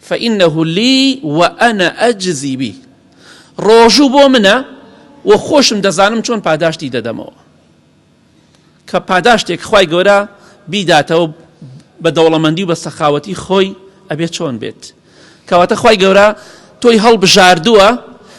فإنه لی و انا اجزی به ڕۆژوو بۆ منە و خۆشم دەزانم چۆن پاداشتی دەدەمەوە کە پاداشتێک خوای گەورە بیداتەوە بە دەوڵەمەندی و بە سەخاوەتی خۆی ئەبێت چۆن بێت کەواتە خوای گەورە تۆی هەڵبژاردووە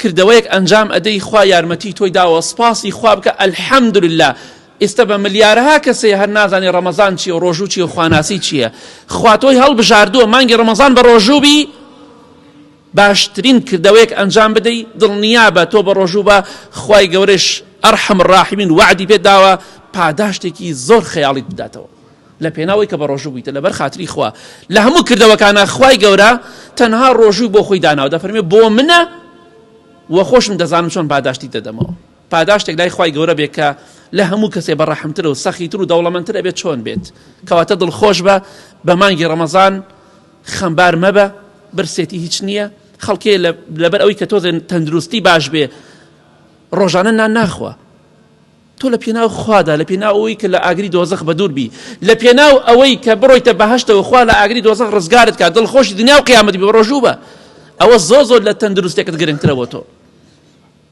کردەوەیەک ئەنجام ئەدەی خوا یارمەتی تۆی داوە سپاسی خوا بکە الحمدللە ئیستە بە ملیارەها کەسێ هەر نازانێ ڕەمەزان چیە و ڕۆژوو چیە و خواناسی چیە خوا تۆی هەڵبژاردووە مانگی ڕەمەزان بە ڕۆژوو بی باشترین کردەوەیەک ئەنجام بدەی دڵنیابە تۆ بە ڕۆژوو بە خوای گەورەش ارحم الراحمین وەعدی پێت داوە پاداشتێکی زۆر خەیاڵیت بداتەوە. لە پێناو ئەوەی کە بە ڕۆژوو بوویتە لەبەر خاتری خوا لە هەموو کردەوەکانە خوای گەورە تەنها ڕۆژووی بۆ خۆی داناو دەفەرمێ بۆ منە و خۆشم دەزانم چۆن پاداشتی دەدەمەوە پاداشتێک لای خوای گەورە بێ کە لە هەموو کەسێ بە ڕەحمتر و سەخیتر و دەوڵەمەندتر ئەبێت چۆن بێت کەواتە دڵ خۆش بە بە مانگی ڕەمەزان خەمبار مەبە برسێتی هیچ نییە خەڵکێ لەبەر ئەوی کە تۆزێن تەندروستی باش بێ ڕۆژانە نان ناخوا تۆ لە پێناو خوادا، لە پێناو ئەوەی کە لە ئاگری دۆزەخ بەدوور بی، لە پێناو ئەوەی کە بڕۆیتە بەهەشتەوە خوا لە ئاگری دۆزەخ ڕزگارت کا، دڵخۆشی دنیا و قیامەت بی، بەڕۆژوو بە، ئەوە زۆر زۆر لە تەندروستێکت گرنگترە بۆ تۆ.